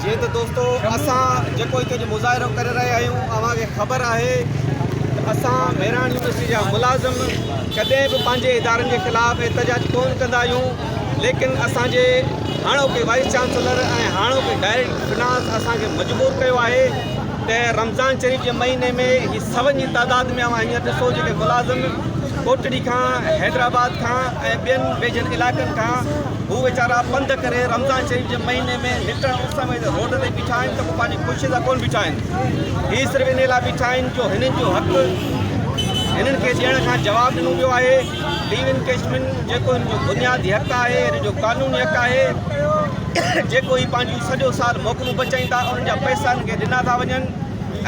جيئن ته دوستو اسان جيڪو هتي جو مظاهرو ڪري رهيا آهيون اوهان کي خبر آهي ته اسان مهراڻ يونيورسٽي جا ملازم ڪڏهن به پنهنجي ادارن جي خلاف احتجاج ڪون ڪندا آهيون ليڪن اسان جي هاڻوڪي وائيس چانسلر ۽ هاڻوڪي ڊائريڪٽر فنانس اسان کي مجبور ڪيو آهي ته رمضان شريف جي مهيني ۾ هي سون جي تعداد ۾ اوهان هينئر ڏسو جيڪي ملازم ڪوٽڙي کان حيدرآباد کان ۽ ٻين ويجهن علائقن کان هو ويچارا پنڌ ڪري رمضان شريف جي مهيني ۾ نٽڻ اس ۾ روڊ تي بيٺا آهن ته ڪو پنهنجي خوشي سان ڪونه بيٺا آهن هي صرف انهي لاء بيٺا آهن جو هنن جو حق هنن کي ڏيڻ کان جواب ڏنو ويو آهي ليو ان ڪيشمين جيڪو هن جو بنيادي حق آهي هن جو قانوني حق آهي جيڪو هي پنهنجو سڄو سال موڪلون بچائين ٿا انهن جا پئسا هن کي ڏنا ٿا وڃن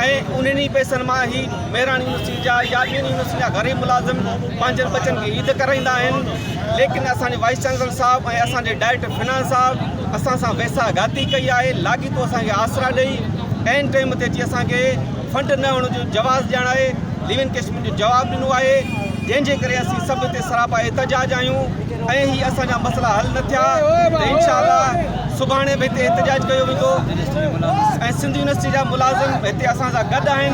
۽ انهن ئي پئسن مان هي مهراڻ يونيورسٽي جا يا ٻين يونيورسٽي جا غريب ملازم پنهنجن ٻچن کي عيد ڪرائيندا آهن ليڪن اسان جي وائيس چانسلر صاحب ۽ اسان جي ڊائريڪٽر فنانس صاحب اسان سان ويساهه گهاتي ڪئي آهي لاڳيتو اسان کي آسرا ڏئي عين ٽائيم تي اچي اسان کي فنڊ نه هئڻ جو جواز ڄاڻائي ليو ان ڪيسمين جو جواب ڏنو آهي جنهن جي ڪري اسين سڀ هتي سراپا احتجاج آهيون ۽ هي اسان جا مسئلا حل نه ٿيا ته انشاء الله سڀاڻي به هتي احتجاج ڪيو ويندو ۽ سنڌ يونيورسٽي جا ملازم هتي اسان سان گڏ آهن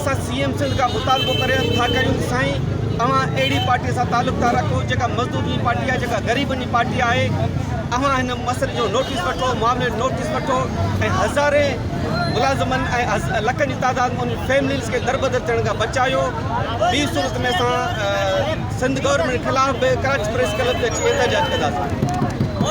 اسان سي ايم سنڌ کان مطالبو ڪري ٿا ڪريون ته سائين اوهان اهڙي پارٽي سان تعلق ٿا رکو جيڪا مزدورن جي پارٽي آهي جيڪا غريبن جي پارٽي آهي اوهان هن مسئلي جو نوٽيس وٺو معاملي جو نوٽيس وٺو ۽ هزارين ملازمن ۽ لکن جي تعداد ۾ انهن فيمليز کي دربدر ٿيڻ کان بچايو ٻي صورت ۾ اسان سنڌ گورنمينٽ خلاف به ڪراچي پريس ڪلب تي اچي احتجاج ڪنداسين